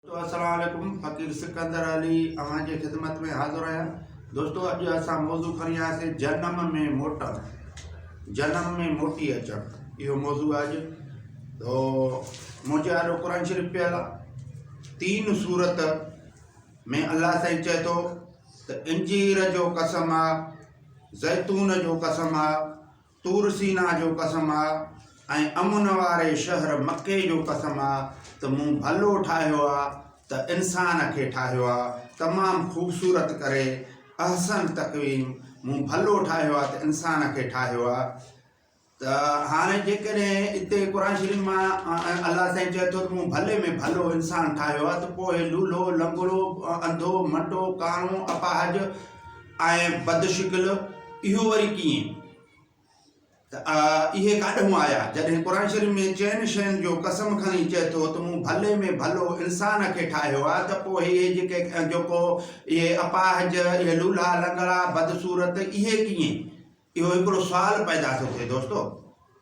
دوستو السلام عليڪم فقير سڪندر علي اوهان جي خدمت ۾ حاضر آهيان دوستو اڄ اسان موضوع کڻي آيا سي جنم ۾ موٽڻ جنم ۾ موٽي اچڻ اهو موضوع اڄ تو منهنجي آڏو قرآن شريف پيل آهي تين صورت ۾ الله سائين چئي ٿو ته انجير جو قسم آ زيتون جو قسم آ طور سينا جو قسم آ ۽ امن واري شهر مڪي جو قسم آ ته مون ڀلو ٺاهيو آ ته انسان کي ٺاهيو آ تمام خوبصورت ڪري احسن تقويم مون ڀلو ٺاهيو آ ته انسان کي ٺاهيو آ ته هاڻي جيڪڏهن اتي قرآن شريف مان الله سائين چئي ٿو ته مون ڀلي ۾ ڀلو انسان ٺاهيو آ ته پوء لولهو لنگڙو انڌو منڊو ڪاڻو اپاهج آهين بد شڪل، اهو وري ڪيئن؟ ته اهي ڪاڏهون آيا؟ جڏهن قرآن شريف ۾ چئن شين جو قسم کڻي چئي ٿو ته مون ڀلي ۾ ڀلو انسان کي ٺاهيو آهي ته پوء هي جيڪي جيڪو اهي اپاهج، اهي لولها لنگڙا، بدصورت اهي ڪيئن؟ اهو هڪڙو سوال پيدا ٿو ٿئي دوستو!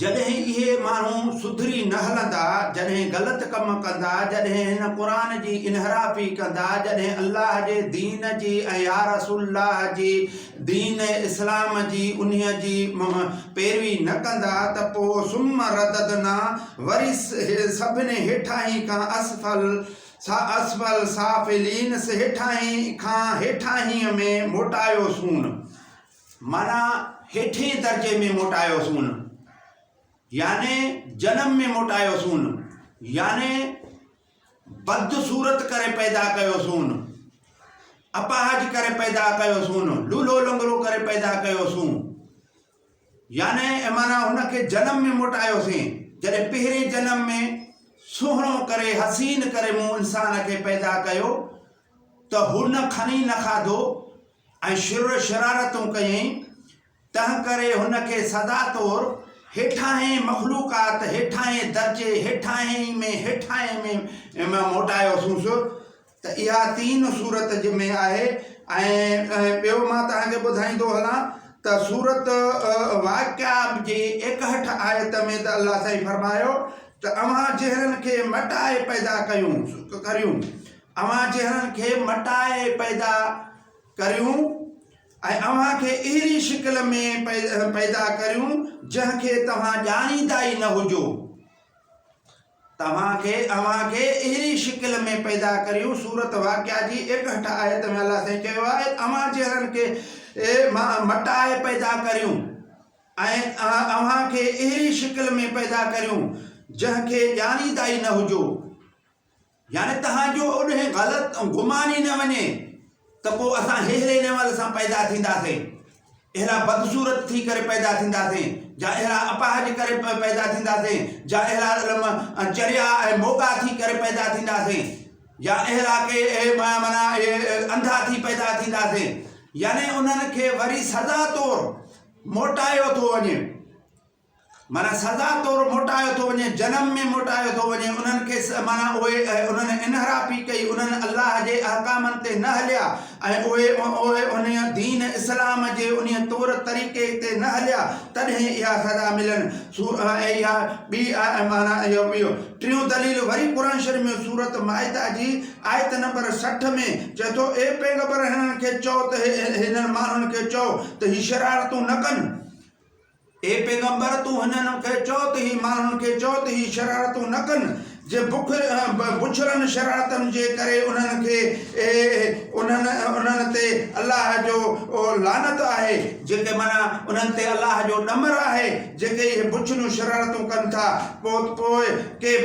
جڏهن اهي ماڻهو سڌري نه هلندا، جڏهن غلط ڪم ڪندا، جڏهن هن قرآن جي انحرافي ڪندا، جڏهن الله جي دين جي ۽ يا رسول الله جي دين اسلام جي انهيء جي پيروي نه ڪندا ته پوء ثم رددنا وري سڀني هيٺاهين کان اسفل اسفل سافلين هيٺاهين کان هيٺاهينء ۾ موٽايوسون. معنيٰ هيٺئين درجي ۾ موٽايوسون، يعني جنم ۾ موٽايوسون، يعني بد صورت ڪري پيدا ڪيوسون، اپاهج ڪري پيدا ڪيوسون، لولهو لنگڙو ڪري پيدا ڪيوسون. يعني اي معنيٰ هن کي جنم ۾ موٽايوسين، جڏهن پهرين جنم ۾ سهڻو ڪري، حسين ڪري مون انسان کي پيدا ڪيو ته هن کڻي نه کاڌو ۽ شر شرارتون ڪيائين، تنهنڪري هن کي سزا طور هيٺاهين مخلوقات، هيٺاهين درجي، هيٺاهين ۾ هيٺاهين ۾ ۾ موٽايوسونس ته اها تين سورت جي ۾ آهي ۽ ٻيو مان توهان کي ٻڌائيندو هلان ته سورت واقعا جي ايڪهٺ آيت ۾ ته الله سائين فرمايو ته اوهان جهرن کي مٽائي پيدا ڪيون ڪريون اوهان جهڙن کي مٽائي پيدا ڪريون ۽ اوهان کي اهڙي شڪل ۾ پيدا ڪريون جنهن کي توهان ڄاڻيندا ئي نه هجو. توهان کي اوهان کي اهڙي شڪل ۾ پيدا ڪريون، سورة واقعة جي ايڪهٺ آيت ۾ الله سائين چيو آهي ته اوهان جهڙن کي مٽائي پيدا ڪريون ۽ اوهان کي اهڙي شڪل ۾ پيدا ڪريون جنهن کي ڄاڻيندا ئي نه هجو. يعني توهان جو اوڏهين غلط گمان ئي نه وڃي ته پوء اسان ههڙي نيول سان پيدا ٿينداسين، اهڙا بدصورت ٿي ڪري پيدا ٿينداسين، جا اهڙا اپاهج ڪري پيدا ٿينداسين، جا اهڙا علم چريا ۽ موڳا ٿي ڪري پيدا ٿينداسين، جا اهڙا ڪي معنيٰ انڌا ٿي پيدا ٿينداسين، يعني انهن کي وري سزا طور موٽايو ٿو وڃي. معنيٰ سزا طور موٽايو ٿو وڃي، جنم ۾ موٽايو ٿو وڃي، انهن کي س معنيٰ اهي انهن انحرافي ڪئي، انهن الله جي احڪامن تي نه هليا ۽ اهي اهي انهيء دين اسلام جي انهيء طور طريقي تي نه هليا تڏهن اها سزا ملن ٿو ۽ اها ٻي آهي معنيٰ اهو ٻيو ٽيون دليل وري قرآن شريف ۾ سورة مائده جي آيت نمبر سٺ ۾ چئي ٿو اي پيغمبر هنن کي چئو ته هي هنن ماڻهن کي چئو ته هي شرارتون نه ڪن. اي پيغمبر! تون هنن کي چؤ ته هي ماڻهن کي چؤ ته هي شرارتون نه ڪن، جي بڇڙن شرارتن جي ڪري انهن کي انهن تي الله جو لعنت آهي، جيڪي معنيٰ انهن تي الله جو ڏمر آهي، جيڪي اهي بڇڙيون شرارتون ڪن ٿا، پوء ڪي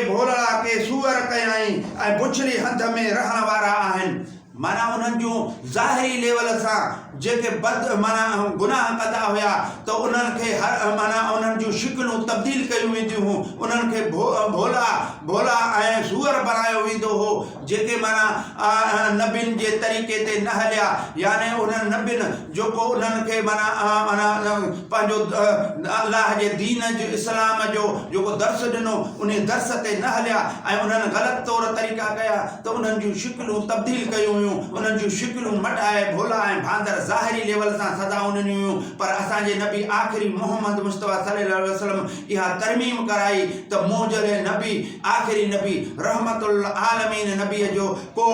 ڀولڙا ڪي سوئر ڪيائين ۽ بڇڙي هنڌ ۾ رهڻ وارا آهن. معنيٰ انهن جون ظاهري ليول سان جيڪي بد معنيٰ گناهه ڪندا هيا ته انهن کي هر معنيٰ انهن جون شڪلون تبديل ڪيون وينديون هيون انهن کي ڀولا ڀولا ۽ سوئر بڻايو ويندو هو جيڪي معنيٰ نبين جي طريقي تي نه هليا يعني انهن نبين جيڪو انهن کي معنيٰ معنيٰ پنهنجو الله جي دين جو اسلام جو جيڪو درس ڏنو انهي درس تي نه هليا ۽ انهن غلط طور طريقا ڪيا ته انهن جون شڪلون تبديل ڪيون هيون، انهن جون شڪلون مٽائي ڀولا ۽ ڀاندر ظاهري ليول سان سزائون ڏنيون هيون پر اسان جي نبي آخري محمد مصطفيٰ صلي الله عليه وسلم اها ترميم ڪرائي ته منهجل نبي آخري نبي رحمت للعالمين نبي جو ڪو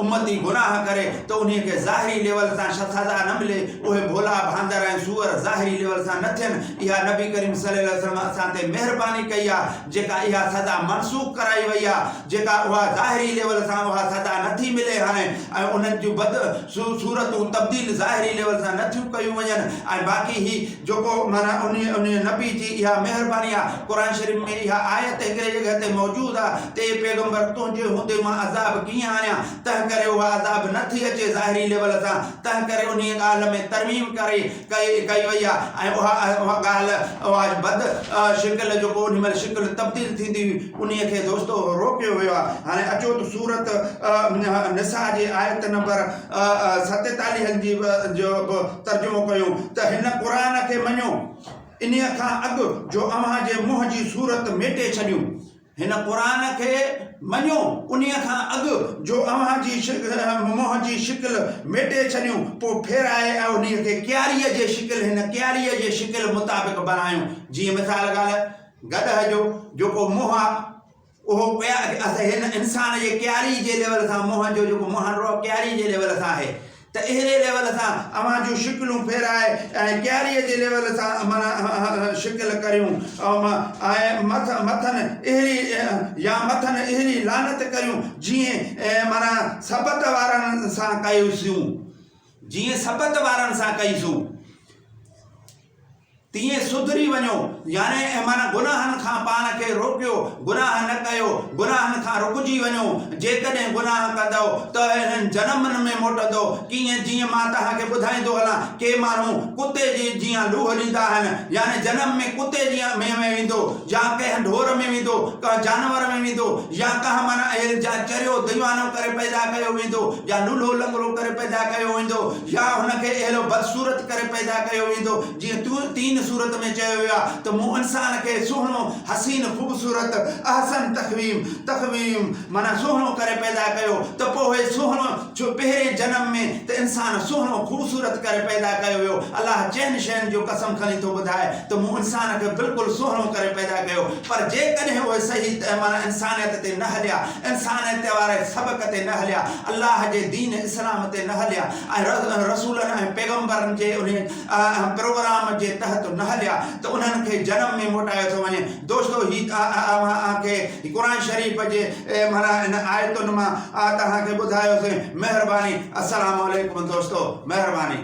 امتي گناهه ڪري ته انهي کي ظاهري ليول سان سزا نه ملي اهي ڀولا ڀاندر ۽ سوئر ظاهري ليول سان نه ٿين اها نبي ڪريم صلي الله عليه وسلم اسان تي مهرباني ڪئي آهي جيڪا اها سزا منسوخ ڪرائي وئي آهي. جيڪا اها ظاهري ليول سان اها سزا نه ٿي ملي هانء ۽ انهن جون بد صورتون تبديل ظاهري ليول سان نه ٿيون ڪيون وڃن ۽ باقي هي جيڪو معنيٰ انهي انهي نبي جي اها مهرباني آ قرآن شريف ۾ اها آيت هڪڙي جڳهه تي موجود آ ته اي پيغمبر تنهنجي هوندي مان عذاب ڪيئن آڻيان تنهنڪري اها عذاب نه ٿي اچي ظاهري ليول سان تنهنڪري انهي ڳالهه ۾ ترميم ڪري ڪئي وئي آهي ۽ اها اها ڳالهه اها بد شڪل جو ڪو انهي مهل شڪل تبديل ٿيندي هئي انهي کي دوستو روڪيو ويو آهي هاڻي اچو ته سورت نساء جي آيت نمبر ستيتاليهن جي جو به ترجمو ڪيون ته هن قرآن کي مڃو انهي کان اڳ جو اوهان جي منهن جي صورت ميٽي ڇڏيون هن قرآن کي مڃو انهيء کان اڳ جو اوهان جي منهن جي شڪل ميٽي ڇڏيون، پوء ڦيرائي ۽ انهيء کي ڪياريء جي شڪل، هن ڪياريء جي شڪل، مطابق بڻايون، جيئن مثال ڳالهه، گڏهه جو جيڪو منهن آهي، اهو هن انسان جي ڪياريء جي ليول سان منهن جو جيڪو منهن آهي، اهو ڪياريء جي ليول سان آهي، ته اهڙي ليول سان اوهان جون شڪلون ڦيرائي ۽ ڪياريء جي ليول سان معنيٰ شڪل ڪريون ۽ مٿن اهڙي يا مٿن اهڙي لعنت ڪريون جيئن معنيٰ سبط وارن سان ڪئي سيون جيئن سبط وارن سان ڪئي سيون. تيئن سڌري وڃو، يعني اهمن گناهن کان پاڻ کي روڪيو، گناهه نه ڪيو، گناهن کان رڪجي وڃو، جيڪڏهن گناهه ڪندؤ ته اهڙن جنمن ۾ موٽندؤ، ڪيئن جيئن مان توهان کي ٻڌائيندو هلان، ڪي ماڻهو ڪتي جي جيان لوهه ڏيندا آهن، يعني جنم ۾ ڪتي جيان ۾ ۾ ويندو، يا ڪنهن ڍور ۾ ويندو، ڪنهن جانور ۾ ويندو، يا ڪنهن معنيٰ اهل جيان چريو ديوانو ڪري پيدا ڪيو ويندو، يا لولهو لنگڙو ڪري پيدا ڪيو ويندو، يا هن کي اهڙو بدصورت ڪري پيدا ڪيو ويندو، جيئن طور تين سورت ۾ چيو ويو آهي ته مون انسان کي سهڻو، حسين، خوبصورت، احسن تقويم، تقويم، معنيٰ سهڻو ڪري پيدا ڪيو ته پوء سهڻو ڇو پهرين جنم ۾ ته انسان سهڻو، خوبصورت، ڪري پيدا ڪيو ويو، الله چئن شين جو قسم کڻي ٿو ٻڌائي ته مون انسان کي بلڪل سهڻو ڪري پيدا ڪيو پر جيڪڏهن اهي صحيح تهه معنيٰ انسانيت تي نه هليا، انسان اتي واري سبق تي نه هليا، الله جي دين اسلام تي نه هليا ۽ رسولن ۽ پيغمبرن جي انهي پروگرام جي تحت نه هليا ته انهن کي جنم ۾ موٽايو ٿو وڃي. دوستو هي اوهان کي قرآن شريف جي معنيٰ ان آيتن مان توهان کي ٻڌايوسين. مهرباني. السلام عليڪم دوستو. مهرباني.